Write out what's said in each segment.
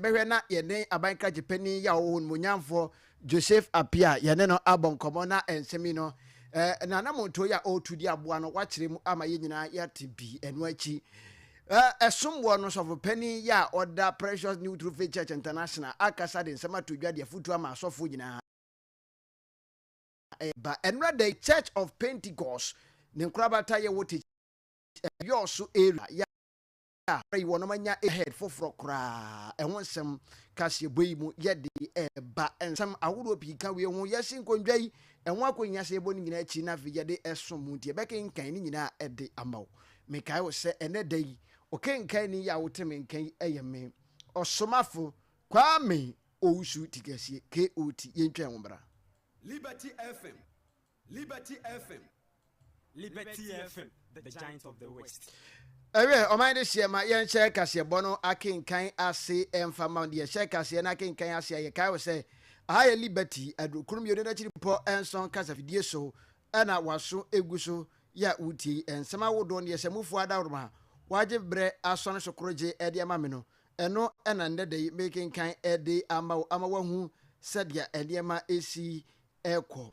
bɛhwɛ na yɛne aban krakyepɛni yi a ɔwɔ hɔ no mu nyamfoɔ Joseph Appiah yɛne no abɔ nkɔmmɔ na nsɛm yi no eh, n'anammɔntuo yi a ɔretu de aboa no wakyerɛ mu ama yɛn nyinaa yɛate bi ɛno akyi eh, ɛsomboɔ no sɔfopanin yi a ɔda Precious New True Faith Church International akasa de nsɛm ato dwa de afotuo ama asɔfoɔ nyinaa ɛba ɛnora da yi Church of Pentecost ne nkorabata yɛwɔ te eh, yɔɔ so area a wɔreyɛ yi wɔnom anya head foforɔ koraa ɛho nsɛm kaseɛbɔ yi mu yɛde ɛba nsɛm ahodoɔ pii ka wei ho yɛsi nkondwa yi ɛho akɔnya sɛ yɛbɔ no nyinaa akyi na afei yɛde ɛsom mu nti yɛbɛkenkan ne nyinaa ɛde ama wo mekae wo sɛ ɛnɛ da yi ɔkenkan ne yi a wote me nka yi ɛyɛ me ɔsomafo Kwame Owusu Tikasie KOT yɛntwa ɛho bra Liberty FM Liberty FM, Liberty FM, the giant of the west. ɛwɛ ɔman de hyeɛ ma yɛnhyɛ kaseɛbɔ no akenkan ase ɛmfa ma deɛ hyɛ kaseɛ no akenkan ase a yɛkae wo sɛ aha yɛ liberty adurukunu mmienu no akyiri pɔ nson kasafidie so ɛna waso egu so yɛ a wotie nsɛm awodoɔ no yɛsɛ mufoɔ adaworoma a wagye berɛ asɔne so koro gye ɛde ama me no ɛno ɛna nnɛ da yi mekenkan ɛde ama wo ama wahu sɛdeɛ nneɛma ɛsi rekɔ.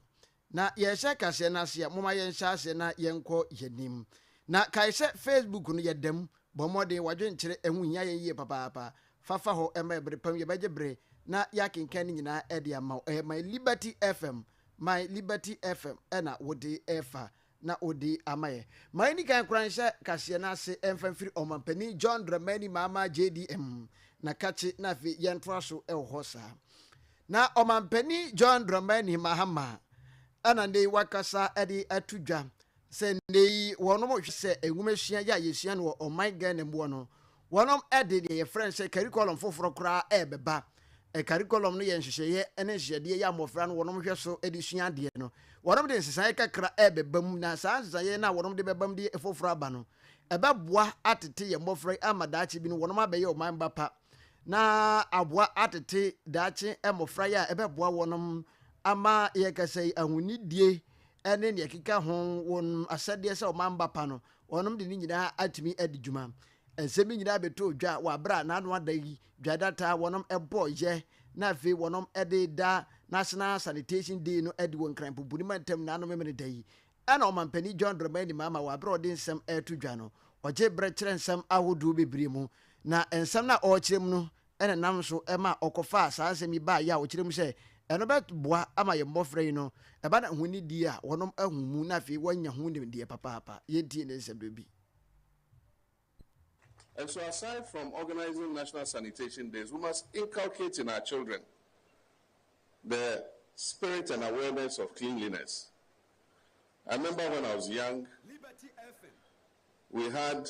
Na yɛrehyɛ kaseɛ no ase a, momma yɛnhyɛ aseɛ na yɛnkɔ yɛn anim. Na kae sɛ Facebook no, yɛda mu. Bɔ mmɔden, w'adwenkyerɛ, ɛho hia yɛn yie papaapa. Fa fa hɔ ma ɛbere pa mu, yɛbɛgye bere na yɛakenkan ne nyinaa de ama wo. Ɛyɛ My Liberty FM, My Liberty FM na wode refa na odi ama yɛn. Ma yɛnni kan nkora nhyɛ kaseɛ no ase mfa mfiri Ɔmampanin John Dramani Mahama JDM na kakye na afei yɛntoa so wɔ hɔ saa. Na Ɔmampanin John Dramani Mahama na nnɛ yi wakasa de ato dwa sɛ nnɛ yi wɔnom hwɛ sɛ nwoma sua yɛ a yɛsua no wɔ ɔman Ghana mu hɔ no Wɔnom de deɛ yɛfrɛ no sɛ curriculum foforɔ koraa ɛrebɛba. Curriculum no yɛ nhyehyɛeɛ ne nhyehyɛdeɛ yi a mmɔfra no wɔnom hwɛ so de sua adeɛ no. Wɔnom de nsesaeɛ kakra ɛrebɛba mu na saa nsesaeɛ no a wɔnom de bɛba mu de foforɔ aba no, ɛbɛboa atete yɛn mmɔfra yi ama daakye bi no wɔnom abɛyɛ ɔman ba pa na aboa atete daakye mmɔfra yi a ɛbɛboa wɔnom ama yɛn kasa yi ahonidie ne deɛ ɛkeka ho wɔn asɛdeɛ sɛ ɔman ba pa no Wɔnom de ne nyinaa atumi adi dwuma. Nsɛm yi nyinaa bɛtɔɔ dwa wɔ aberɛ a n'ano ada yi dwadata a wɔnom bɔɔ yɛ na afei wɔnom de da National Sanitation Day no adi wɔ Nkran Pumpuni Mantam nyinaa no Memeneda yi. Ɛna Ɔmanpanin John Dramani Mahama wɔ aberɛ a ɔde nsɛm reto dwa no, ɔgyee berɛ kyerɛ nsɛm ahodoɔ bebree mu na nsɛm no a ɔrekyerɛ mu no na ɛnam so ma ɔkɔfaa saa nsɛm yi baeɛ a ɔkyerɛ mu sɛ ɛno bɛboa ama yɛn mmɔfra yi no, ɛba no ho nidie a wɔnom ahu mu na afei wɔanya ho nimdeɛ papaapa. Yɛntie ne nsɛmberɛ bi. And so aside from organising National Sanitation Days, we must inculcate in our children the spirit and awareness of cleanliness. I remember when I was young, we had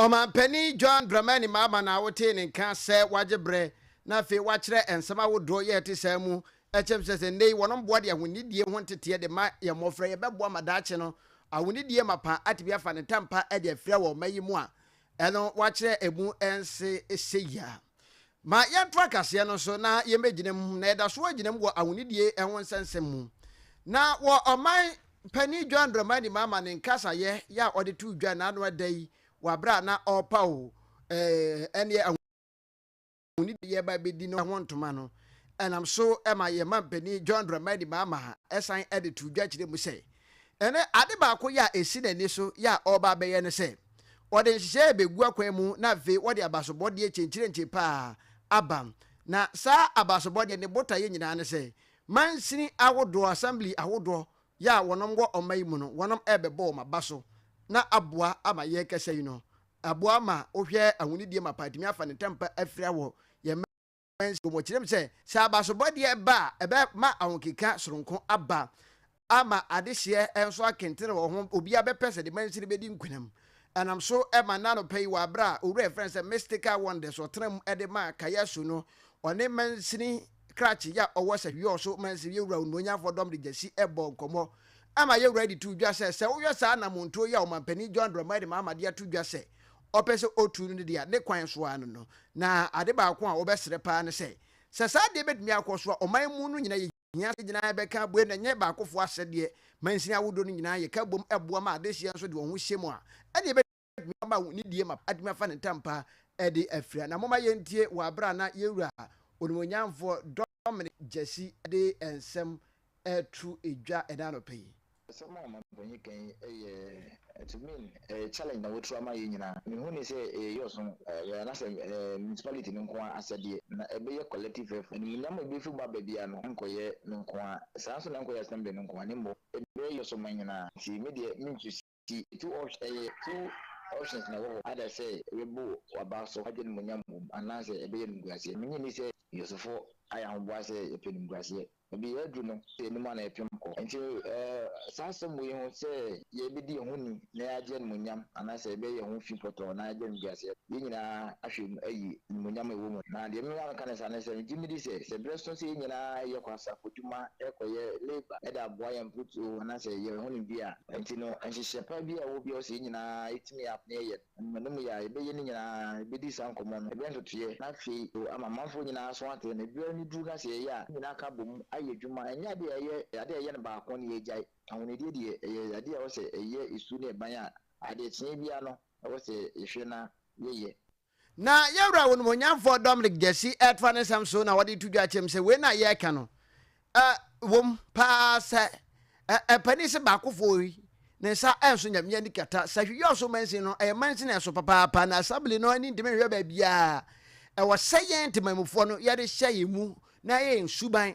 Ɔmanpanin John Dramani Mahama na wotee ne nka sɛ wagye berɛ na afei wakyerɛ nsɛm ahodoɔ yɛ ɛte saa mu kyɛm sɛ sɛ nnɛ yi wɔnom boa de ahonidie ho nteteɛ de ma yɛn mmɔfra yi ɛbɛboa ma daakye no ahonidie mapa atumi afa ne tampa de afira wɔ ɔman yi mu a ɛno wakyerɛ ɛmu nse sɛ yia. Ma yɛntoa kaseɛ no so na yɛmmɛgyina mu, na yɛda so agyina mu wɔ ahonidie ho nsɛnsɛm mu. Na wɔ Ɔman Panin John Dramani Mahama ne nkasayɛ yɛ a ɔde too dwa nna ano ɛda yi wɔ aberɛ a na ɔrepaw ɛneɛ ahonidie a yɛreba abɛdi no ho ntoma no, ɛnam so ma yɛn Mampanin John Dramani Mahama ɛsan de too dwa kyerɛ mu sɛ, Ɛnnɛ, ade baako yɛ a esi n'ani so yɛ a ɔreba abɛyɛ ne sɛ, ɔde nhyehyɛe begu akwan mu na afei ɔde abasobɔdeɛ kyenkyerenkye pa ara aba. Na saa abasobɔdeɛ no, ne botaeɛ nyinaa ne sɛ, mansini ahodoɔ, assembly ahodoɔ yɛ a wɔnom wɔ ɔman yi mu no, wɔnom rebɛbɔ wɔn aba so na aboa ama yɛn kasa yi no aboa ma wohwɛ ahonidie mapa atumi afa ne ntɛmpa afira wɔ yɛn Owens bɔ kyerɛm sɛ, sɛ abasobɔdeɛ ba a, ɛbɛma ahokeka soronko aba, ama adehyeɛ nso akentene wɔ ho, obiara bɛpɛ sɛ ne mansini bɛdi nkunim. Ɛnam so ma nnɛ anɔpa yi, wɔ aberɛ a Owura a yɛfrɛ no sɛ Mystical Wonders ɔtena mu de ma Kayasu no, ɔne mansini krakye yi a ɔwɔ sɛ Hwiɔɔ so mansini yɛwura Onuonyamfoɔ Dɔm de Gyasi bɔɔ nkɔmmɔ ma yɛwura de too dwa sɛ, sɛ wohwɛ saa anamontuo yi a Ɔmanpanin John Dramani Mahama de ato dwa sɛ ɔpɛ sɛ otu no de a ne kwan so ara no no, na ade baako a wɔbɛsrɛ paa ne sɛ, sɛ saa ade yi betumi akɔ so a, ɔman mu no nyinaa yehia sɛ nyinaa bɛka abue na ɛnyɛ baakofo asɛdeɛ. Mansini ahodoɔ no nyinaa yɛ ka bom boa ma adehyeɛ nso de wɔn ho hyɛ mu a, ɛnneɛ ɛbɛtumi ama nidie ma atumi afa ne ntampa de afira. Na momma yɛntie wɔ bere a na yɛn Wura Onimuonyamfoɔ Dominic Gyasi de nsɛm reto dwa ɛnɛ anɔpa yi. Asɛm a Mampanyin ka yi yɛ to me challenge na wɔatu ama yɛn nyinaa. Mehu no sɛ ɛyɛ yɛn ɔsom anaasɛ municipality no nko ara asɛdeɛ, na ɛbɛyɛ collective effort. Animuonyam a ɛbɛfiri mu aba biara no nkɔyɛ me nko ara, saa ara nso na ɛnkɔyɛ Assembly no nko ara, na mmom ɛbɛyɛ yɛn ɔsom man nyinaa. Nti me deɛ mentwe. Nti two options ɛyɛ two options na ɛwɔ hɔ either sɛ ɛbɛbu w'aba so agye animuonyam mmom anaasɛ ɛbɛyɛ animguaseɛ. Mennye nni sɛ Yosefo ayɛ ahoboa sɛ yɛpɛ animguaseɛ. Baabi a aduru no sɛ anim a na yɛpem kɔ. Nti saa asɛm wei ho sɛ yɛbɛdi yɛn ho ni na yɛagye animuonyam anaasɛ yɛbɛyɛ yɛn ho fi pɔtɔɔ na yɛagye animguaseɛ no, yɛn nyinaa ahwɛ mu ayi animuonyam a ɛwɔ mu no. Na deɛ mema meka no saa ne sɛ megye medi sɛ sɛ berɛ so sɛ yɛn nyinaa yɛkɔ asafo adwuma, yɛkɔyɛ labour de aboa yɛn mfuturo anaasɛ yɛn ho nimdeɛ a, Enti no, nhyehyɛɛ pa biaa a ɔwɔ biaa ɔsɛ yɛn nyinaa yɛtumi a na yɛyɛ no. Mma no mu yɛ a yɛbɛyɛ no nyinaa, yɛbɛdi saa nkɔmmɔ no, yɛbɛyɛ ntotoeɛ, na afei nso ama amanfoɔ nyinaa aso ate na berɛ no duru na sɛ yɛyɛ a, yɛn nyinaa aka abɔ mu ayɛ adwuma. Ɛnyɛ adeɛ a ɛyɛ adeɛ a yɛyɛ no baako na yɛagyae. Ahonidie deɛ, ɛyɛ adeɛ a ɛwɔ sɛ ɛyɛ su ne ban a adeɛ kyeeɛ biaa no ɛwɔ sɛ yɛhwɛ na yɛyɛ. Na yɛn Wura Onimuonyamfoɔ Dominic Gyasi refa ne nsɛm so na ɔde reto dwa akyerɛ mu sɛ wei no a yɛreka no wom pa ara sɛ mpanin se baakofoɔ yi ne nsa renso Nyame ani kata sɛ hwɛ yɔɔso mansin no ɛyɛ mansin a ɛso papaapa na assembly no ani ntumi nhwɛ baabiara ɛwɔ sɛ yɛn ntemanmufoɔ no yɛde hyɛ yɛn mu na ɛyɛ yɛn suban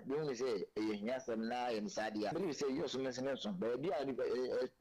Yɛhunu sɛ ɛyɛ ahiasɛm na yɛne saa adi a, bere bi sɛ yɛyɛ ɔsom nso ne nso. Baabi a nnipa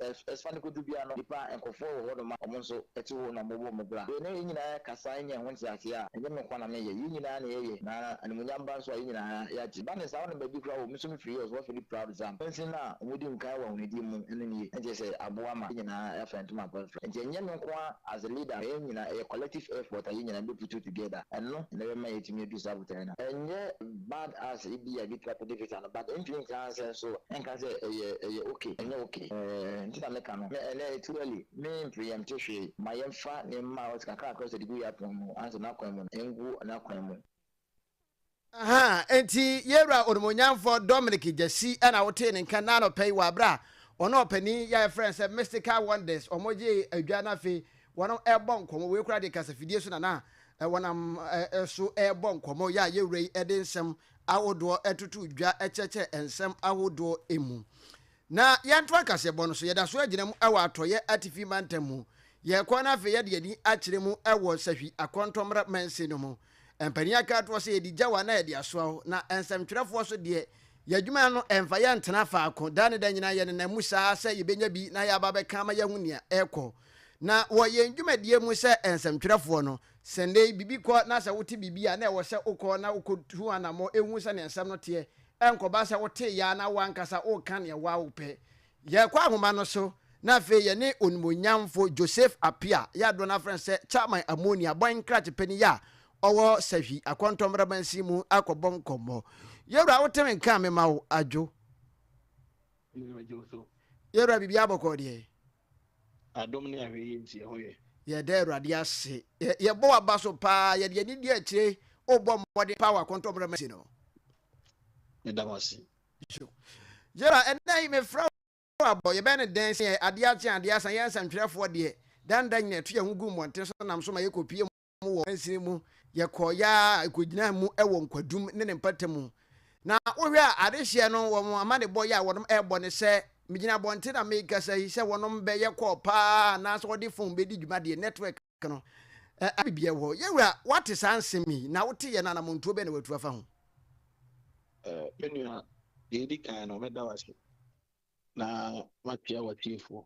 ɛrefa no kodu biara no, nnipa nkurɔfoɔ wɔ hɔnom a wɔn nso te hɔ na wɔbɔ wɔn bra. Yɛne yɛn nyinaa kasa anya ɛho nteaseɛ a, ɛnyɛ me nko ara na meyɛ, yɛn nyinaa na yɛyɛ, na animuonyam ba nso a, yɛn nyinaa yɛagye. Ba ne saa, wonam baabi koraa wɔ, me nso mefiri Jos, wɔafiri Proud Zam. Kwansin a wɔdi nkan wɔ ahonidie mu no nie, ɛnkyerɛ sɛ aboa ma yɛn nyinaa yɛafra ntoma mfrafra. Enti ɛnyɛ me nko ara as a leader, yɛn nyinaa, ɛyɛ collective effort a yɛn nyinaa bɛputu together, ɛno na ɛbɛma yɛatumi adu saa botaeɛ no. Ɛnyɛ Bad ass ebia ebi koraa pɛdɛ visa no but ɛntumi nka ansɛn so ɛnka sɛ ɛyɛ ɛyɛ ok ɛnyɛ ok ɛɛ nti na meka no nɛ ɛnɛ too early me mpreɛmte hwee ma yɛnfa nneɛma ɔte kakrakra ɔsɛ de gu yɛapon mu ansɛ nakwan mu no ngu nakwan mu. Ahaa enti yɛwura onimuonyamfɔ Dominic Gyasi ɛna wotee ne nka nnɛ anɔpa yi wɔ aberɛ a ɔne ɔpanin yi a yɛfrɛ no sɛ Mystical Wonders wɔn gyee adwa no afei Wɔrebɔ nkɔmmɔ, wei koraa deɛ kasafidie so na na wɔnam so rebɔ nkɔmmɔ, yɛ a yɛn Wura yi de nsɛm ahodoɔ totoo dwa kyerɛkyerɛɛ nsɛm ahodoɔ mu. Na yɛntoa kaseɛbɔ no so, yɛda so gyina mu wɔ Atɔeɛ Atifi Mantam mu, yɛrekɔ na afei yɛde yɛn ani akyerɛ mu wɔ Sahwi Akɔntɔmmrɛ Mansin no mu. Mpanin aka atoɔ sɛ, Yɛde gya wo a na yɛde asoa wo, na nsɛmtwerɛfoɔ nso deɛ, yɛn adwuma no mfa yɛn ntena faako, da ne da nyinaa yɛnenam mu saa sɛ yɛbɛnya bi na yɛaba abɛka ama yɛahu nea ɛrekɔ. Na wɔ yɛn dwumadie mu sɛ nsɛmtwerɛfoɔ no, sɛ nnɛ yi biribi kɔ na sɛ wote biribi a na ɛwɔ sɛ wokɔ na wokɔtu ho anammɔ hu sɛdeɛ nsɛm no teɛ, ɛnkɔba sɛ woteeɛ ara na w'ankasa woreka deɛ wo ara wopɛ. Yɛkɔ ahoma no so na afei yɛne Onimuonyamfo Joseph Appiah, yɛ a dodoɔ no ara frɛ no sɛ Chairman Amoni abɔn nkrakye panin yi a ɔwɔ Sahwi Akɔntɔmmrɛ Mansin mu akɔbɔ nkɔmmɔ. Yɛwura wote me nka a mema wo, Adwo? Yɛwura biribiara bɔkɔɔ deɛ? Adom ne ahwɛyie nti ɛhɔ yɛ. Yɛda Awurade ase. Yɛbɔ w'aba so paa. Yɛde yɛn ani di akyire. Wobɔ mmɔden paa wɔ akɔntɔmmerɛ mu asi no. Meda wo ase. Gerald, ɛnnɛ yi mefrɛ wo abɔ. Yɛbɛyɛ no dɛn sɛ yɛn adeɛ akye, adeɛ asa, yɛn nsɛntwerɛfoɔ deɛ, daa ne daa nyinaa yɛto yɛn ho gu mmɔnten so nam so ma yɛkɔpue mu mu wɔ mansini mu. Yɛkɔɔ yaa ɛkɔgyinaa mu wɔ nkwadum ne ne mpata mu. Na wohwɛ a adehyeɛ no wɔn amanebɔ yɛ a wɔnom ɛrebɔ ne sɛ, megyina abɔnten a merekasa yi sɛ wɔnom bɛyɛ call paa anaasɛ wɔde phone bɛdi dwuma deɛ network no ɛyɛ biara wɔ hɔ. Yɛwura woate saa nsɛm yi na wote yɛn no anamontuo bɛn na watu afa ho? Me nua, deɛ ɛdi kan no meda wo ase na matwea w'atiefoɔ,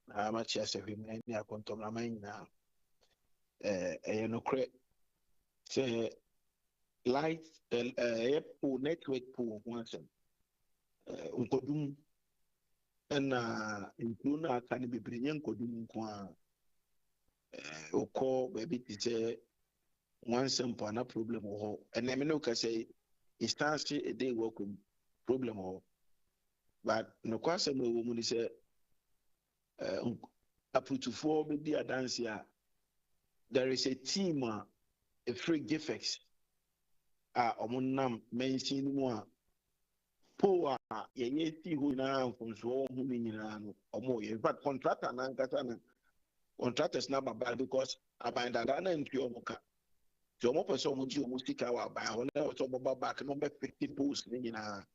na makyea sahwimman ne akontɔmraman nyinaa. Ɛyɛ nokorɛ sɛ light ɛyɛ pool network pool ho asɛm nkɔdum ɛna nkuro no aka no bebree nyɛ nkɔdum nko ara. eh, wokɔ baabi te sɛ nwansa mpo ana problem wɔ hɔ ɛnɛ me ne woka sɛ instance ɛdɛ wɔ akɔ mu problem wɔ hɔ but nokɔ asɛm a ɛwɔ mu ne sɛ eh, aputufoɔ bɛdi adanse a there is a team a ɛfiri gifex a wɔn nam mansin no mu a Pole a yɛyɛ sii hɔ nyinaa mfomsoɔ wɔ ho no nyinaa no wɔyɛ. In fact contractor no ankasa no contractors no aba bae because aban dadaa no antua wɔn ka. Nti wɔpɛ sɛ wɔgye wɔn sika wɔ aban hɔ na ɛwɔ sɛ wɔba back na wɔbɛfete poles no nyinaa.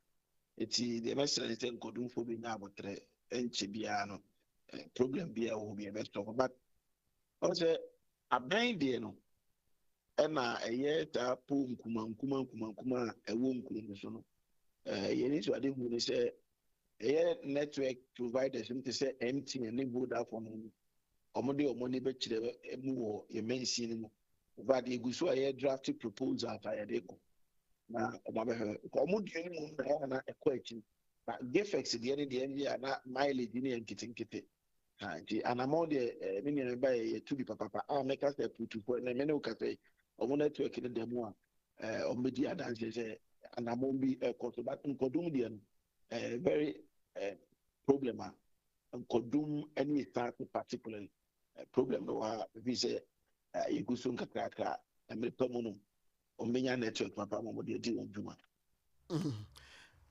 Nti deɛ mɛsrɛ ne sɛ nkɔdumfoɔ bɛnya abotrɛ nkyɛ biara no problem biara wɔ hɔ bi ɛbɛsɔ hɔ but ɔsɛ Abɛn deɛ no, ɛna ɛyɛ taa po nkumankumankumankumankuma a ɛwɔ nkuro no so no. Yɛn anisoadehu ne sɛ, ɛyɛ network providers no te sɛ MTN ne Vodafone no, wɔde wɔn ani bɛkyerɛ mu wɔ yɛn mansin no mu. Infact, yɛgu so a yɛdrafte proposals a yɛde kɔ na wɔn abɛhwɛ. Nka wɔn deɛ no mmom na ɛyɛ a na ɛkɔ akyiri. Na Gifex deɛ no deɛ ɛnyɛ a na mileage no yɛ nketenkete. ha nti anamɔ deɛ ɛɛ me nua ba yɛ yɛtu bi papapa a mɛka sɛ putufoɔ na mene woka sɛ ɔmo network no da mu a ɛɛ ɔmo bɛdi adanseɛ sɛ anamɔ bi ɛkɔ so but nkɔdom deɛ no ɛɛ very ɛɛ problem a nkɔdom ɛne esaase particularly problem no wɔ ha ebi sɛ ɛɛ yɛgu so nkakrakra mmerɛ pa mu no ɔmo bɛnya network papa ma ɔmo deɛ di wɔn dwuma.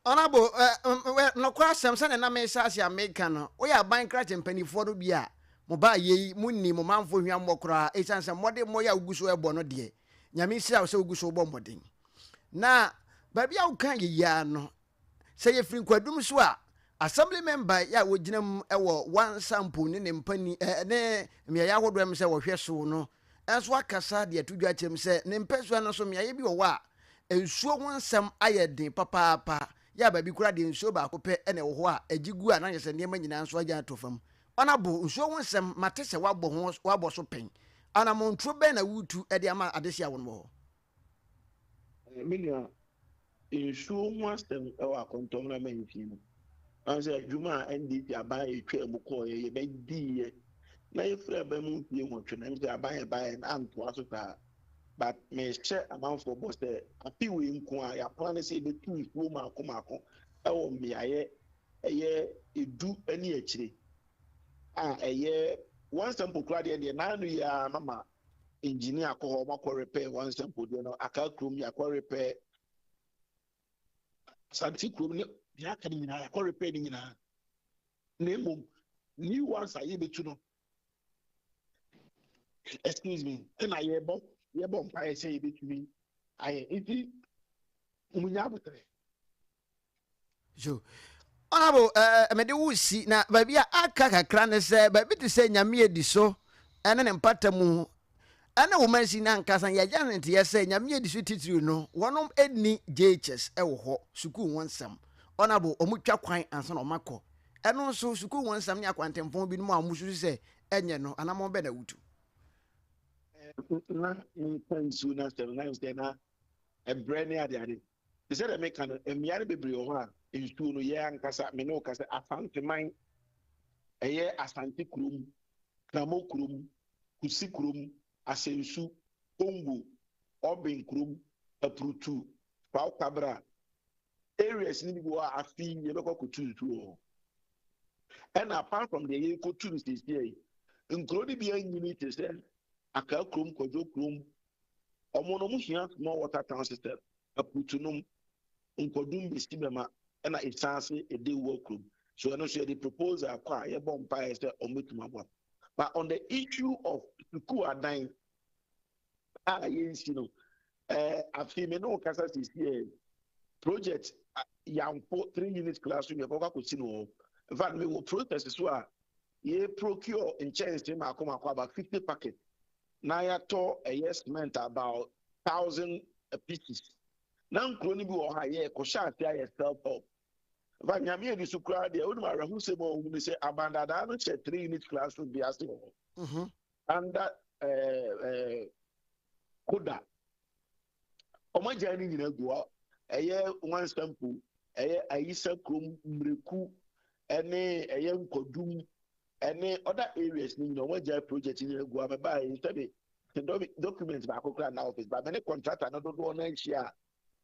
ɔnabo nɔkora asɛm sɛdeɛ na mesa ase a meka no woyɛ aban krakye mpanimfoɔ no bi a mo ba yei mo nni mo manfo hwammɔ koraa ɛsiane sɛ mmɔde mmɔ yɛ a wogu so ɛbɔ no deɛ nyame nhyira wo sɛ wogu so wobɔ mmɔden na baabi a woka yɛyiaa no sɛ yɛfiri nkwadum so a Assembly member yi a wogyina mu wɔ Wansa mpo ne ne mpani ne mmeaeɛ ahodoɔ ɛm sɛ wɔhwɛ so no nso akasa de ato dwa akyerɛ mu sɛ ne mpɛsua no so mmeaeɛ bi wɔ hɔ a nsuo ho nsɛm ayɛ den papaapa yɛ a baabi koraa deɛ nsuo baako pɛ na ɛwɔ hɔ a ɛgye gu a na kyerɛ sɛ nneɛma nyinaa nso agya ato fam. Ɔnabo, nsuo ho nsɛm, mate sɛ woabɔ ho, woabɔ so pɛn. Anammɔntuo bɛn na woretu de ama adehye a wɔn wɔ hɔ? Me nua, nsuo ho asɛm wɔ akɔntɔn na mansin no. Ɔn sɛ adwuma a NDC aban a yɛtwaa mu kɔɔeɛ yɛbɛdiiɛ na yɛfiri aba mu mfie nwɔtwe na sɛ aban yɛ baeɛ na antoa so saa. But mehyɛ amanfoɔ bɔ sɛ afe wei nko a yɛaplan ne sɛ yɛbɛtu nsuo mako mako wɔ mmeaeɛ ɛyɛ edu ne akyire a ɛyɛ one sample koraa deɛ deɛ naano yi ara mama engineer akɔ hɔ ɔmakɔ repɛ wɔn nsɛmpodeɛ no aka kurom yɛakɔ repɛ asante kurom ne deɛ aka no nyinaa yɛakɔ repɛ no nyinaa na mmom new ones a yɛbɛtu no excuse me ɛna yɛbɔ yɛbɔ mpaeɛ sɛ yɛbɛtumi ayɛ nti wɔnya abotrɛ So ɔnabo ɛɛ mede wo si na baabi a aka kakra ne sɛ baabi te sɛ nyame adi so ɛne ne mpata mu ɛne wo mansin ankasa yɛagya ne nteɛ sɛ nyame adi so titiriw no wɔnom ɛni gyechers ɛwɔ hɔ sukuu ho nsɛm ɔnabo ɔmo twa kwan ansa na ɔmo akɔ ɛno nso sukuu ho nsɛm ne akwantenfɔn binom a ɔmo susu sɛ ɛnyɛ no anamɔn bɛ na wutu. na nsa nsuo no asɛm na sɛ na ɛbrɛ ne adeade Te sɛ deɛ meka no, mmeae no bebree wɔ hɔ a, nsuo no, yɛn ankasa, me ne wo ka sɛ Asanteman, ɛyɛ Asante kurom, Kramo kurom, Kusi kurom, Asensu, Kongo, Urban kurom, Apurutu, Faukabra, areas no bi wɔ hɔ a afi yɛbɛkɔ akɔtu nsuo wɔ hɔ. Ɛna apart from deɛ yɛrekɔtu no seesia yi, nkuro no bi anyini te sɛ Akaa kurom, Kwadwo kurom, ɔmo no ɔmo hia small water town system akurutu nom nkɔdum besi bɛma ɛna esan ase ede wɔ kurom so ɛno nso yɛde proposal akɔ a yɛbɔ mpaeɛ sɛ ɔmo betumi aboa but on the issue of sukuu adan a yɛnsi no ɛɛ eh, afei me ne wo kasa sisi ɛ eh, project yanfo three unit class room yɛkɔ kɔ akɔsi no wɔ in fact me wɔ process so a yɛ procure nkyɛnse mako mako about fifty packet na yɛatɔ ɛyɛ cement about thousand pieces na nkuro no bi wɔ hɔ a yɛ kɔhyɛ ase ayɛ self help nfa nyame ani so koraa deɛ wonim awerɛhosɛm a ɔhu ne sɛ abandadaa no hyɛ three unit classroom bi ase wɔ hɔ mm-hmm. under eh, eh, koda wɔn agya no nyinaa gu hɔ ɛyɛ nwansampo ɛyɛ ayisa kurom mmireku ɛne ɛyɛ nkɔdum Ɛne other areas no nyina ɔmo agyae project nyina agu hɔ mebaa yi sɛbi te document baako koraa na office ba me ne contractor no dodoɔ no anhyia a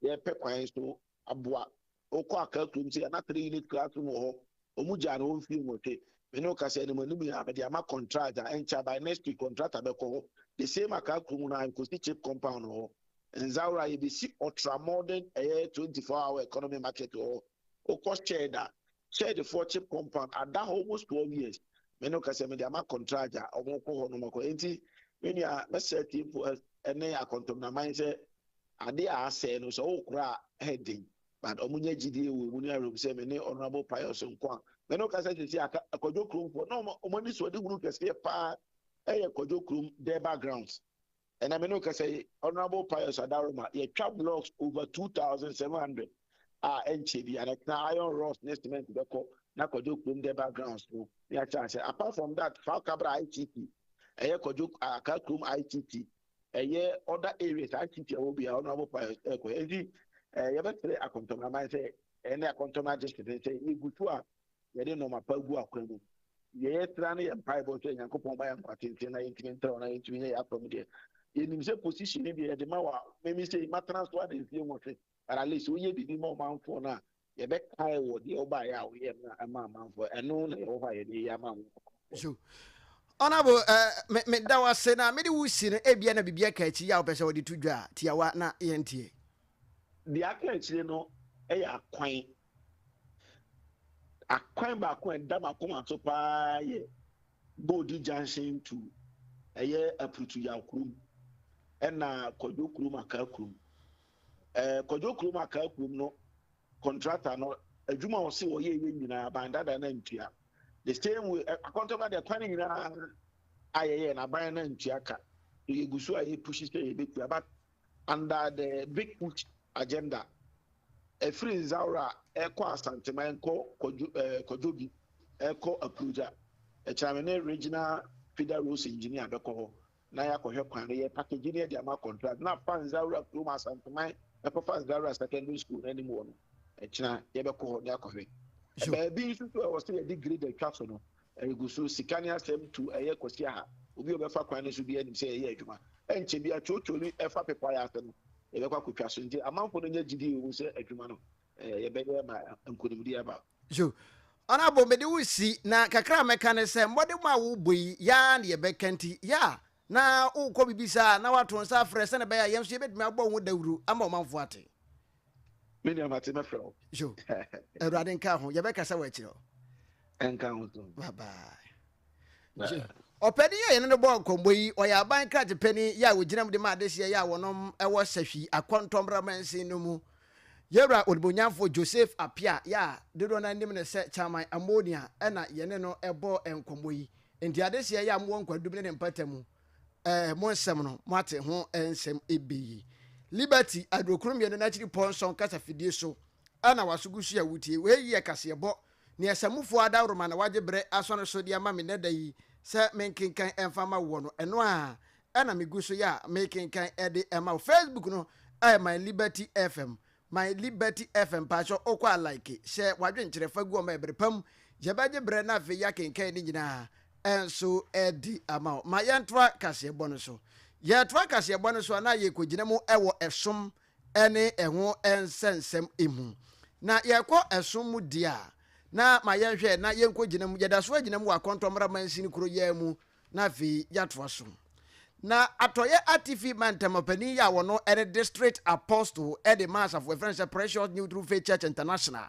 yɛpɛ kwan so aboa wokɔ aka kurom sɛ na three unit classroom wɔ hɔ ɔmo gyaa no hɔ mfie nwɔtwe me ne woka sɛ ɛnam anim yi a mede ama contract a ɛnkyɛ by next week contractor bɛkɔ hɔ the same aka kurom no a nkosi chip compound hɔ nzawora yɛbɛsi ultra modern ɛyɛ 24 hour economy market wɔ hɔ wokɔ shed a Church foɔ cheap compound ada hɔ almost twelve years me no kɛsɛ me de ama contragya ɔmo kɔ hɔ nom akɔ enti me nua mɛsɛ tiefo ɛne akɔntɔmnaman sɛ ade a asɛe no sɛ ɔwokora a ɛyɛ den but ɔmo nya gyidie wɔ emu ne awerɛm sɛ me ne honourable pius nko a me no kɛsɛ sisi aka akɔdwo kurom foɔ na ɔmo ani so ɔde hunu kɛseɛ paa ɛyɛ kɔdwo kurom dɛba grounds ɛna me ne kasa yi honorable pius adaroma yɛtwa blocks over 2700 a ɛnkyɛ bi ana tena iron rods ne cement bɛkɔ na kwadwo kurom de backgrounds no ne akyɛ asɛ apart from that fa kabra itt ɛyɛ kwadwo aka kurom itt ɛyɛ other areas itt ɛwɔ bia honorable pius ɛkɔ ɛnti yɛbɛkyerɛ akɔntɔmraman sɛ ɛne akɔntɔmra gye sɛ sɛ yɛgu so a yɛde nnoɔma pa gu akwan mu. Deɛ yɛtra ne yɛ mpaebɔ sɛ Nyankopɔn ma yɛ nkwa tenten na yɛntumi ntrɛw na yɛntumi nyɛ yɛ apam deɛ. Yɛnim sɛ position no deɛ yɛde ma wɔ memi sɛ matena so ada mfie nwɔtwe but at least woyɛ biribi ma ɔmanfoɔ no a yɛbɛkae wɔ deɛ wobaeɛ a woyɛ no ɛma amanfoɔ ɛno na yɛwɔ hɔ a yɛde yɛ ama wo. So Honorable uh, meda wo ase na mede wo si no ebia na biribi aka akyi yɛ a wopɛ sɛ wode to dwa a tiawa na yɛnteɛ. Deɛ aka akyire no ɛyɛ akwan Akwan baako a ɛda m'akoma so paa yɛ Bodi Junction to ɛyɛ Aprutuyaw kurom ɛna Kwadwo kurom Akaa kurom. Ɛɛ Kwadwo kurom Akaa kurom no contractor no adwuma a ɔse ɔyɛ yɛ nyinaa ban dada na ntua. The same way akɔntɔba deɛ kwan nyinaa a yɛyɛ na ban na ntua ka. So yɛgu so a yɛ pushi sɛ yɛbɛtua but Under the Big Push Agenda, ɛfiri Nzaura rekɔ Asanteman rekɔ Kwadwo, eh, Kwadwobi rekɔ Akurogya. Ɛkyena me ne Regional Feeder Roads Engineer bɛkɔ hɔ na yɛakɔhwɛ kwan no, yɛpakagye no yɛde ama contract na afa Nzaura kurom Asanteman ɛkɔfa Nzaura Secondary School no anim hɔ no, ɛkyena yɛbɛkɔ hɔ na yɛakɔhwɛ. Sure. Baabi nso so a ɛwɔ sɛ yɛde grade atwa so no, Ɛregu so, sika ne asɛm tu ɛyɛ Kwasi Aha. Obi a ɔbɛfa kwan no so biara nim sɛ yɛyɛ adwuma. Ɛnkyɛ biara twootwoo bi fa pepae ase no, yɛbɛkɔ akotwa so. Enti amanfo no nya gyidi wom sɛ adwuma no, yɛbɛyɛ ma nkonimdi aba. So Ɔnabo, mede wo resi, na kakra a mɛka ne sɛ, mmɔdemmɔ a worebɔ yi, yɛ ara na yɛbɛka nti. Yɛ a na worekɔ biribi saa a, na woato nsa afrɛ sɛnea ɛbɛyɛ a yɛn nso yɛbɛtumi abɔ ho dawuru ama ɔmanfo ate. Me nua mate mɛfrɛ wo. Yo, Awurade nka ho, yɛbɛkasa wɔ akyirɛ o. Ɛnka ho to. Bye bye. Yo, ɔpɛni yɛ yɛne no bɔɔ nkɔmbɔ yi, ɔyɛ aban krakye pɛni yɛ a ogyina mu de ma adehyeɛ yɛ a wɔnom wɔ Sahwi Akɔntɔmmra Mansin no mu. Yɛwura Onibonyamfoɔ Joseph Apia yɛ a dodoɔ no ara nim no sɛ Chairman Ammonia na yɛne no bɔɔ nkɔmbɔ yi. Nti adehyeɛ yɛ a mowɔ nkwadum ne ne mpatamu. Ɛɛ, mo nsɛm no, moate ho nsɛm ebe yi. Liberty, Aduokron mmienu n'akyiri pɔ nsɔn kasa fidie so na waso gu so a wutie. Wei yɛ kaseɛbɔ. Nea Samufoɔ adawroma na wagye berɛ asɔ no so de ama me nnɛ da yi sɛ menkenkan mfa mma woɔ no, ɛno ara na megu so yɛ a mekenkan de ma wo. Facebook no, ɛɛ, my Liberty FM. My Liberty FM mpakyɛw wokɔ a like, hyɛ w'adwenkyerɛ fa gu ɔma ɛbere pa mu. Yɛbɛgye berɛ na afei yɛakenkan ne nyinaa nso adi ama wo. Ma yɛntoa kaseɛbɔ no so. Yɛtoa kaseɛbɔ no so a na yɛkɔgyina mu wɔ ɛsom ne ɛho nsɛnsɛm mu. Na yɛkɔ ɛsom mu deɛ a, na ma yɛnhwɛ na yɛnkɔgyina mu. Yɛda so agyina mu wɔ Akɔntɔmmra Mansini Kuroyɛɛ mu Na afei yɛatoa so. Na Atɔeɛ Atifi Mantam Ɔpanin yɛ a wɔno ne District Apostle de ma Asafo a yɛfrɛ no sɛ Precious New True Faith Church International.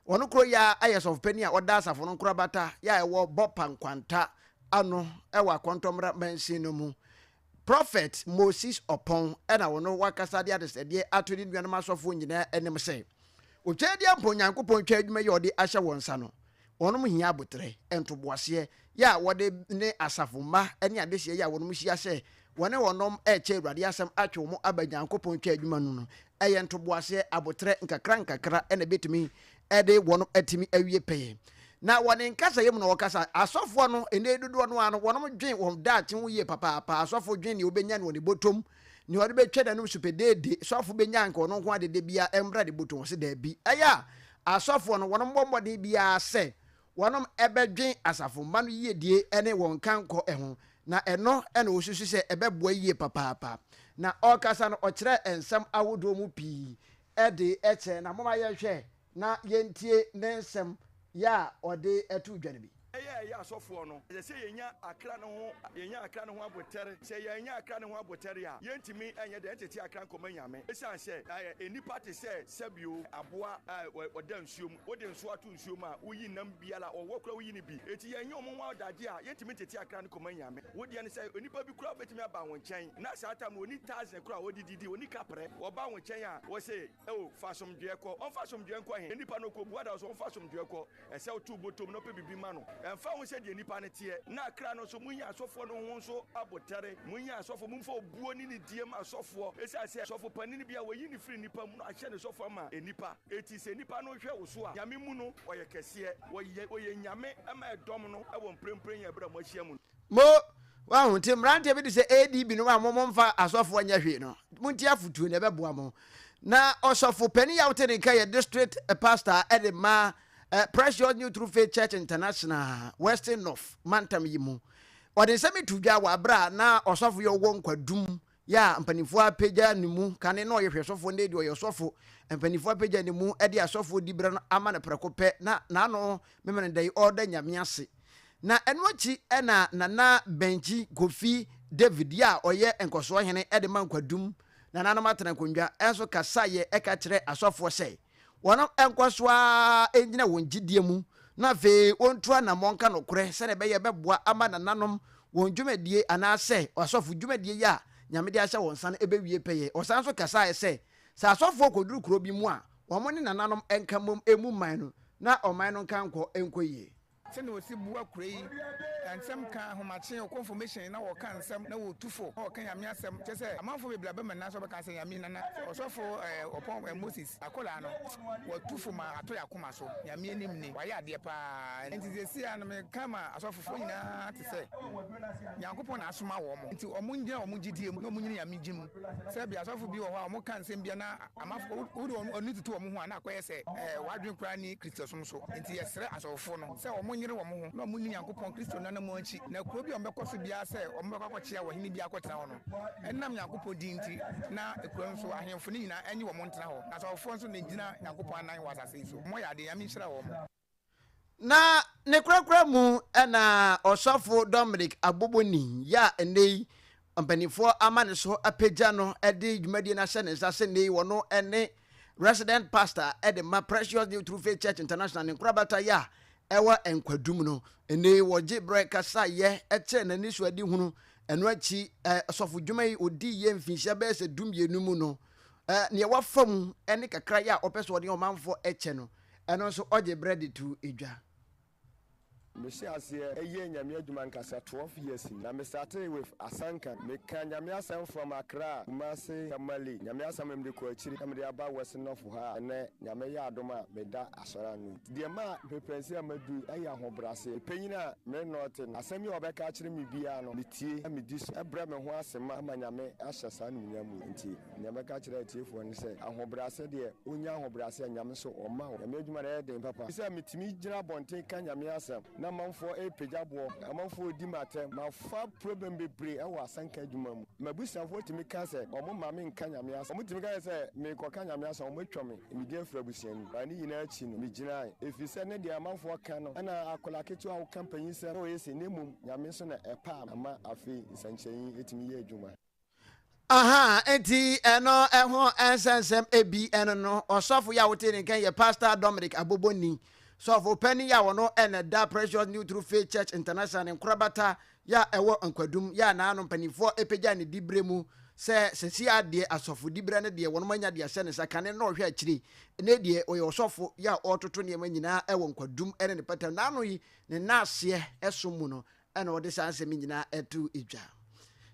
Wɔno koro yɛ a yɛ Sɔfopanin a ɔda Asafo no nkorabata yɛ a ɛwɔ Bɔpa Nkwanta ano wɔ Akɔntɔmmra Mansin no mu. Prophet Moses Ɔpɔn na wɔno wakasa de adesrɛdeɛ ato ne nuanom asɔfoɔ nyinaa anim sɛ, wɔtwa adie mpo Nyankopɔn twa adwuma yi a ɔde ahyɛ wɔn nsa no Wɔnom hia aboterɛ, ntoboaseɛ, yɛ a wɔde ne asafo mma ne adehyeɛ yɛ a wɔnom hyia sɛ wɔne wɔnom rekyɛ Awurade asɛm atwe wɔn aba Nyankopɔn twa adwuma no no. Ɛyɛ ntoboaseɛ, aboterɛ, nkakra nkakra na ɛbɛtumi de wɔnom atumi awie pɛyɛ. Na wɔ ne nkasayɛ mu na wɔkasa. Asɔfoɔ no, ɛnnɛ yi dodoɔ no ara no, wɔnom dwen wɔn daakye ho yie papaapa. Asɔfo dwen nea ɔbɛnya no wɔ ne bɔtɔm, nea ɔde bɛtwa n'anom so pɛdeede. Sɔfo bɛnya anka ɔno nko ara dede biara mmra ne bɔtɔm? Ɔse daabi. Ɛyɛ a Asɔfoɔ no, wɔnom bɔ mmɔden biara sɛ wɔnom bɛdwen asafo mma no yiedie ne wɔn nkankɔ ho, na ɛno na wɔsusu sɛ ɛbɛboa yie papaapa. Na ɔrekasa no, ɔkyerɛɛ nsɛm ahodoɔ mu pii de kyerɛɛ, na momma yɛnhwɛ na yɛntie ne nsɛm yɛ a ɔde too dwa no bi. Yɛ a yɛyɛ asɔfoɔ no, ɛsɛ sɛ yɛnya akra no ho yɛnya akra no ho abotɛre. Sɛ yɛannya akra no ho abotɛre a, yɛntumi nyɛ dɛn ntete akra nkɔma Nyame. Esiane sɛ nnipa te sɛ sɛbio, aboa a ɔda nsuo mu, wode nso ato nsuo mu a, woyi nam biara a ɔwɔ koraa woyi no bi. Enti yɛnyɛ wɔn ho adagye a, yɛntumi ntete akra no kɔma Nyame. Wo deɛ no sɛ onipa bi koraa bɛtumi aba wo nkyɛn na saa tam no ɔnni taze koraa a ɔde didi, ɔnni kaprɛ, ɔba wo nkyɛn a, wɔ se, O, fa asomdwoeɛ kɔ. Ɔmfa asomdwoeɛ nkɔ he? Nnipa no ɔkɔbua da hɔ sɛ ɔmfa asomdwoeɛ kɔ. Ɛsɛ woto wo botom na wopɛ biribi ma no. Ɛmfa ho sɛdeɛ nnipa no teɛ. Na akra no nso, monyi asɔfoɔ no ho nso abotare. Monyi asɔfoɔ, momfa obuo ne nidie ma asɔfoɔ, esiane sɛ sɔfo panin bi a wɔayi no firi nnipa mu no ahyɛ no sɔfo ama nnipa. Enti sɛ nnipa no hwɛ wo so a, Nyame mu no, ɔyɛ kɛseɛ. Wɔyɛ, wɔyɛ Nyame ma ɛdɔm no wɔ mprempren yɛ berɛ a moahyia mu no. Mo, wahu, nti mmeranteɛ bi de sɛ AD binom a mo momfa asɔfoɔ nyɛ hwee no, montie afotuo na ɛbɛboa mo. Na ɔsɔfo panin yi a wote ne nka yɛ district pastor de ma eh, Precious New True Faith Church International, Western North mantam yi mu. Ɔde nsɛm yi to dwa wɔ abere a na ɔsɔfo yi ɔwɔ nkwadum yɛ a mpanimfoɔ apagya ne mu kane na ɔyɛ hwɛsofoɔ na ɛdi ɔyɛ ɔsɔfo, mpanimfoɔ apagya ne mu de asɔfoɔ diberɛ no ama no prɛko pɛ na n'ano memene dɛn? Ɔreda Nyame ase. Na ɛno akyi na Nana Bɛnkyi Kofi David yɛ a ɔyɛ nkɔsoɔ hene de ma nkwadum nananom atenankondwa nso kasaeɛ ka kyerɛ asɔfoɔ sɛ, Wɔnkɔ so ara nnyina wɔn gyidie mu na afei wɔntu anammɔn nka nokorɛ sɛdeɛ ɛbɛyɛ ɛbɛboa ama nananom wɔn dwumadie anaa sɛ asɔfo dwumadie yi a Nyame de ahyɛ wɔn nsa no ɛbɛwie pɛyɛ. Ɔsan nso kasaeɛ sɛ, sɛ asɔfoɔ kɔduru kuro bi mu a, wɔn ne nananom nka mmom ɛmmu mman no na ɔman no nka nkɔ nkɔ yie. Sɛnea wɔsi bua kura yi na nsɛm ka ahomakye or confirmation na wɔka nsɛm na wɔtu fo na wɔka Nyame asɛm kyerɛ sɛ amanfoɔ bebree abɛma nyinaa sɛ wɔbɛka sɛ Nyame nana ɔsɔfo eh ɔpɔn eh Moses akwadaa no wɔtu fo ma atɔ yɛn akoma so Nyame anim ni wayɛ adeɛ paa nti seesei a no meka ma asɔfofoɔ nyinaa te sɛ Nyankopɔn na asoma wɔn nti wɔn ngyina wɔn gyidie mu na wɔn nyini Nyame gye mu. Sɛbea asɔfo bi wɔ hɔ a wɔka nsɛm bi a na ama wode wɔn ani toto wɔn ho a na akɔyɛ sɛ wɔn adwene koraa nni Kristosom so. Enti yɛsrɛ asɔfofo no sɛ wɔnyere wɔn ho na wɔnni Nyankopɔn Kristo no anammɔn akyi, na kurow bi a wɔbɛkɔ so biara sɛ wɔbɛkɔ akɔkyea ɔhene bi akɔtena hɔ no, ɛnam Nyankopɔn din nti, na kurow no so ahemfo no nyinaa nnye wɔn ntra hɔ, na asɔfofoɔ nso na egyina Nyankopɔn anan wɔ asase yi so. Wɔyɛ ade. Nyame nhyira wɔn. Na ne korakora mu na ɔsɔfo Dominic Aboboni yɛ a nnɛ yi mpanimfoɔ ama ne so apagya no de dwumadie no ahyɛ ne nsa sɛ nnɛ yi wɔno ne resident pastor de ma Precious New True Faith Church International ne nkorabata yɛ a ɛwɔ nkwadum no nnɛ yi wɔgye berɛ kasa yɛ kyerɛ n'ani so adi hunu ɛno akyi ɔsɔfo dwuma yi ɔdi yɛ mfinhyia bɛyɛ sɛ dumienu mu no nea wafa mu ne kakra yɛ a ɔpɛ sɛ ɔne ɔmanfoɔ kyɛ no Ɛno nso ɔgye berɛ de to dwa. Me hyɛ aseɛ yɛ nyame adwuma nkasa twelve years ni na me startee with asanka me ka nyame asɛm from Accra, Kumasi, Tamale nyame asɛm no me de kɔ akyiri na me de aba west north ha a ɛnɛ nyame yɛ adom a me da asɔre ano nti deɛ ɛma me pɛnsi a madu yi ɛyɛ ahobraseɛ me panyin a me ne no te no asɛm yi a ɔbɛka akyerɛ me biara no me tie na me di so ɛbrɛ me ho ase ma ama nyame ahyɛ saa animuonyam wei nti Nea mɛka akyerɛ atiefoɔ ne sɛ, ahobrɛaseɛ deɛ, wonnya ahobrɛaseɛ a Nyame so ɔmma wo. Nyame adwuma no ɛyɛ den papa. Sɛ metumi gyina abɔnten ka Nyame asɛm na amanfoɔ repagya boɔ, amanfoɔ redi me atɛm, mafa problem bebree ɛwɔ asɛnka adwuma mu. M'abusuafoɔ tumi ka sɛ wɔn mma me nka Nyame asɛm. Wɔn tumi ka kyerɛ sɛ merekɔka Nyame asɛm a wɔn atwa me medin afiri abusua no mu. But ne nyinaa akyi no, megyinae. Ɛfiri sɛ ne deɛ amanfoɔ ka no ɛna akwadaa ketewa a woka mpanyinsɛm na ɔyɛ sei na mmom Nyame nso na ɛpaa me ma afei nsɛnkyerɛnne yi tumi yɛ adwuma. aha nti ɛno ɛho nsɛnsɛm ebi ɛno no ɔsɔfo yi a wote ne nkan yɛ pastor dominic aboboni sɔfo panyin yi a wɔno ɛna da precious new true faith church international ne nkorabata yɛ a ɛwɔ nkwadum yɛ a n'ano mpanimfoɔ apagya ne dibrɛ mu sɛ sɛsi adeɛ asɔfo dibrɛ no deɛ wɔn anya deɛ ahyɛ ne nsa kane na ɔhwɛ akyire ne deɛ ɔyɛ ɔsɔfo yɛ a ɔretoto nneɛma nyinaa ɛwɔ nkwadum ɛne ne pɛtɛm n'ano yi ne naaseɛ ɛso mu no ɛna ɔde saa nsɛm yi nyinaa to dwa.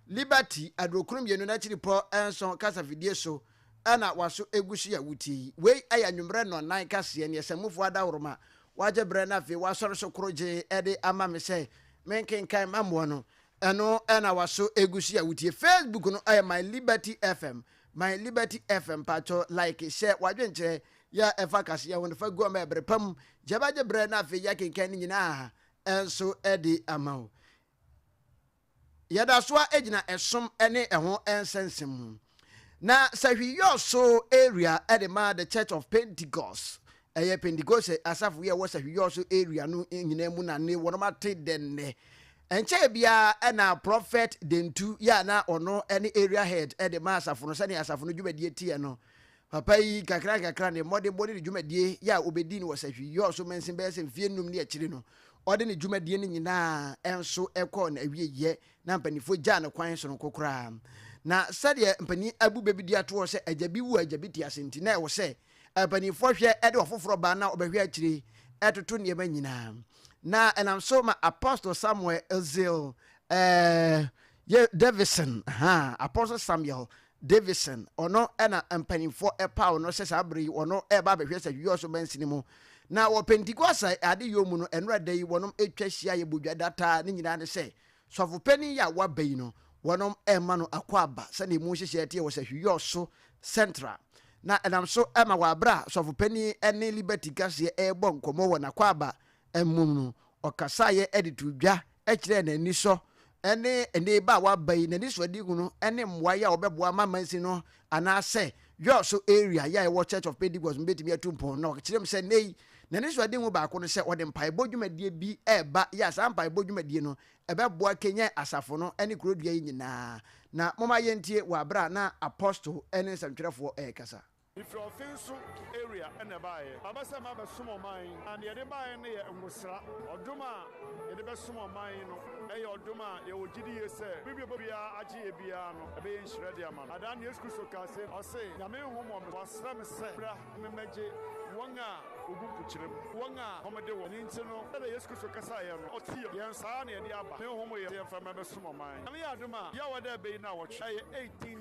Liberty aduokron mmienu no akyiripɔ nson kasafidie so na waso gu so yi a wotie yi. Wei yɛ anwummerɛ nnɔnnan kaseɛ ne Asamufoɔ Adaworoma wagye berɛ na afei wasɔre so koro gyee de ama me sɛ menkenkan ma moɔ no. Ɛno na waso gu so yi a wotie. Facebook no yɛ My Liberty FM. My Liberty FM patwɔ like hyɛ w'adwenkyerɛ yɛ a ɛfa kaseɛ ho no fa gu hɔ ma ɛberɛ pa mu. Gya bɛgye berɛ na afei yɛakenkan ne nyinaa nso adi ama wo. Yɛda so ara gyina ɛsom ne ɛho nsɛnsɛm mu. Na Sahwi-Yɔɔso area de ma The Church of Pentecost. Ɛyɛ Pentekoste asafo yi a ɛwɔ Sahwi-Yɔɔso area no nyinaa mu na ne wɔn ate dɛ nnɛ. Ɛnkyɛe biara na Prɔfɛt Dentu yɛ a na ɔno ne area head de ma asafo no sɛnea asafo no dwumadie teɛ no. Papa yi, nkakrankakra, ne mmɔdenbɔ ne ne dwumadie yɛ a ɔbɛdii no wɔ sahwi yɔɔ so mansin bɛyɛ sɛ mfeɛ nnum ne akyire no, ɔde ne dwumadie no nyinaa nso kɔɔ n'awieeɛ, na mpaninfoɔ gyaa no kwan sononko koraa. Na sɛdeɛ mpanin abu bɛ bi di atoɔ sɛ agya bi wu a agya bi te ase nti, na ɛwɔ sɛ mpaninfoɔ hwɛ de ɔfoforɔ ba na ɔbɛhwɛ akyire toto nneɛma nyinaa. Na ɛnam so ma Apostle Samuel Zeal, eh, yɛ Davison, ahaa, Apostle Samuel Davidson, ɔno na mpanyimfoɔ paw no sɛ saa bere yi wɔn reba abɛhwɛ sɛ Yɔɔso mansini mu. Na wɔ Pentekosta adeyɔ mu no, nnora da yi wɔn atwa ahyia yɛ Bodwa da taa, ne nyinaa ne sɛ Sɔfo Panin yi a waba yi no wɔn rema no akwaaba sɛnea emu nhyehyɛe teɛ wɔ sɛ Yɔɔso Central. Na ɛnam so ma wɔ bere a Sɔfo Panin ne Liberty Kaseɛ rebɔ nkɔmmɔ wɔ n'akwaaba mu no Ɔkasaeɛ de too dwa kyerɛɛ n'anisɔ ne ɛnnɛ ba a waba yi n'anisoadehu no ne mmoaeɛ a wɔbɛboa ma amansin no anaasɛ Jos area yɛ a ɛwɔ Church of Pentecost no bɛtumi atu mpɔn na ɔkyerɛ mu sɛ nnɛ yi n'anisoadehu baako ne sɛ wɔde mpaebɔ dwumadie bi reba yɛ a saa mpaebɔ dwumadie no ɛbɛboa kanyan asafo no ne kurodua yi nyinaa. Na momma yɛntie wɔ berɛ a na Apostle ne nsɛmtwerɛfoɔ rekasa. Efiri ɔfen so area na ɛbaeɛ. Aba sɛ maba bɛsom ɔman na deɛ yɛde baeɛ no yɛ ngosra. Ɔdom a yɛde bɛsom ɔman no yɛ ɔdom a yɛwɔ gyidie sɛ biribi a obiara agye yɛ biara no ɛbɛyɛ nhyira de ama no. Adaa no Yesu Kristo kaa sei, ɔse, Nyame nho mɔ me, wasra me sɛ bra na memmɛgye wɔn a wɔgu mpokyerɛ mu, wɔn a wɔde wɔn. Ɛno nti no, sɛdeɛ Yesu Kristo kasaeɛ no, ɔteam yɛn saa na yɛde aba. Me nho mɔ yɛn sɛ yɛmfa mmra bɛsom ɔman. Nyame yɛ adom a, yɛawa dɛ ɛbɛyi nnawɔtwe, ɛyɛ 18.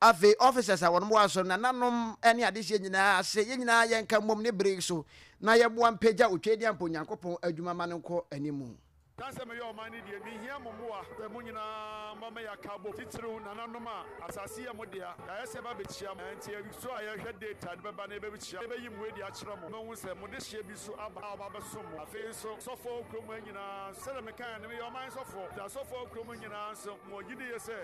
Afei officers a wɔn boa so, nananom ne adehyeɛ nyinaa ase, yɛn nyinaa yɛnka mmom ne bere yi so na yɛboa mpagya Otwedeɛ mpo Nyankopɔn adwuma ma no nkɔ anim. Ka sɛ meyɛ ɔman no deɛ mehia mo mmoa pɛ mo nyinaa mma ma yɛaka abom titiriw nananom a asase yɛ mo dea yɛayɛ sɛ yɛba bɛkyia mo ɛnti ɛso a yɛhwɛ data de bɛba na yɛbɛkyia yɛbɛyi mo adi akyerɛ mo moahu sɛ mo dehyeɛ bi nso aba a ɔba abɛsom mo afei nso sɔfoɔ wɔ kurom ha nyinaa nso sɛdeɛ mekaeɛ no meyɛ ɔman sɔfoɔ nti asɔfoɔ wɔ kurom nyinaa nso Ma ɔgye di yɛ sɛ,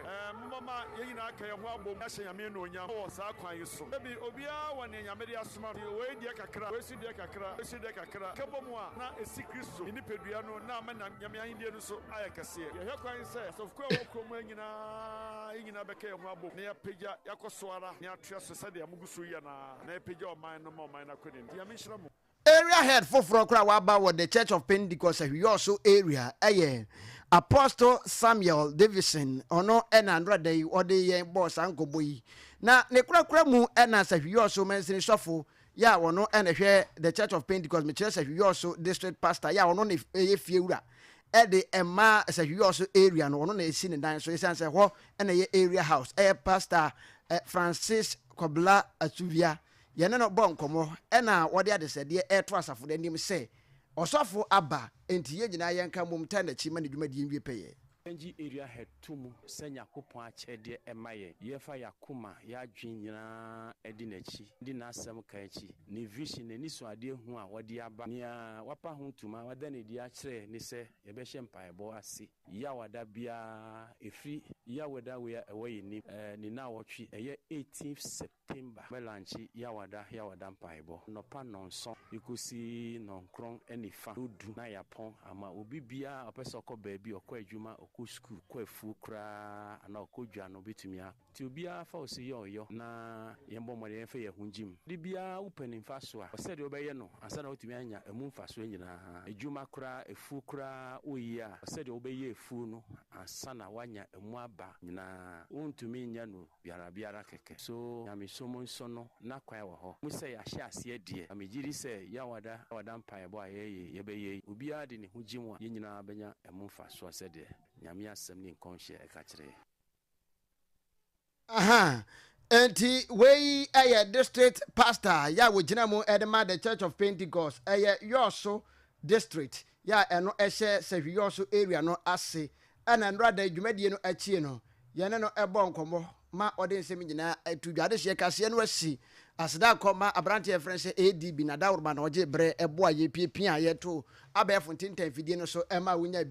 momma yɛn nyinaa ka yɛn ho abom na yɛahyɛ Nyame anuonyam wɔ saa kwan yi so. Dabi, obiara wɔ nea Nyame de asoma no, nti wei deɛ kakra, wei nso deɛ kakra, wei nso deɛ kakra, kɛbɔ mu a, na ɛsi Kristo, ne nipadua no, na ama Nyame ahennie no nso ayɛ kɛseɛ. Yɛhwɛ kwan sɛ, asɔfokuo a ɛwɔ kuro mu ha nyinaa, yɛn nyinaa bɛka yɛn ho abom na yɛapagya, yɛakɔ so ara, na yɛatoa so sɛdeɛ mogu so yi anaa, na yɛpagya ɔman no ma ɔman no akɔ anim. Nti Nyame nhyira mo. Area head foforɔ koraa a waba wɔ The Church of Pentecost Ahwiɔso area yɛ Apostle Samuel Davidson. Ɔno na nnora da yi ɔde yɛn bɔɔ saa nkɔmmɔ yi. Na ne korakora mu na Sahwiɔso mansini sɔfo yɛ a ɔno na ɛhwɛ The Church of Pentecost, mekyerɛ Sahwiɔso district pastor yɛ a ɔno na ɛyɛ fie wura de ɛma Sahwiɔso area no, ɔno na ɛsi ne dan so ɛsiane sɛ hɔ na ɛyɛ area house, ɛyɛ Pastor Francis Kɔbla Asuvia. Yɛne no bɔɔ nkɔmmɔ na ɔde adesrɛdeɛ reto asafo no anim sɛ, Ɔsɔfo aba, enti yɛn nyinaa yɛnka mmom tan n'akyi ma ne dwumadie nwie pɛyɛ. Yɛngye area head to mu sɛ Nyakopɔn akyɛdeɛ ɛma yɛn. Yɛfa y'akoma, y'adwene nyinaa di n'akyi, di n'asɛm ka akyi. Ne vision, n'anisuadeɛ hu a ɔde aba, nea wapa ho ntoma, wada no adi akyerɛ ne sɛ yɛbɛhyɛ mpaebɔ ase Yaw a da biara ɛfiri Yaw da wei a ɛwɔ yɛn anim, ɛɛ, ne nnawɔtwe, ɛyɛ 18th Sep. Timba, Mɛlankye Yawada Yawada Mpaebɔ, Anɔpa nnɔnson de kɔsi nnɔnkron ne fa no du na yɛapɔn ama obibiara a ɔpɛ sɛ ɔkɔ baabi, ɔkɔ adwuma, ɔkɔ sukuu, ɔkɔ afuo koraa anaa ɔkɔ dwa no ɔbɛtumi akɔ. Nti obiara fa wo so yɛ ɔyɔ na yɛmmɔ mmɔden mfa yɛn ho gyem. Ade biara wopɛ ne mfasoɔ a, hwɛ sɛdeɛ wobɛyɛ no ansa na woatumi anya ɛmu mfasoɔ nyinaa. Adwuma koraa, afuo koraa woyɛ a, hwɛ sɛdeɛ wobɛyɛ afuo no ansa na woanya ɛmu aba nyinaa. Wontumi nyɛ no biara biara kɛkɛ. So nyamesom nso no n'akwan wɔ hɔ? Mu sɛ yɛahyɛ aseɛ deɛ a megye di sɛ Yawada Yawada mpaebɔ a yɛyɛ yɛbɛyɛ yi obiara de ne ho gyem a yɛn nyinaa bɛnya ɛmu mfasoɔ sɛdeɛ Nyame asɛm ne nkɔnhyɛ ɛka kyerɛ yɛn. Aha nti wei yɛ district pastor yɛ a wɔgyina mu de ma the church of pentecost ɛyɛ yɔɔso district yɛ a ɛno ɛhyɛ Sahwiyɔɔ so area no ase ɛna nnora da yi dwumadie no akyie no yɛne no bɔɔ nkɔmmɔ ma ɔde nsɛm nyinaa to dwa adehyeɛ kaseɛ no asi aseda akɔ ma aberanteɛ yɛfrɛ no sɛ ADB Nadaworoma na ɔgye berɛ boa yɛ piapiaa yɛto abɛɛfo ntintan fidie no so ɛma wonya bi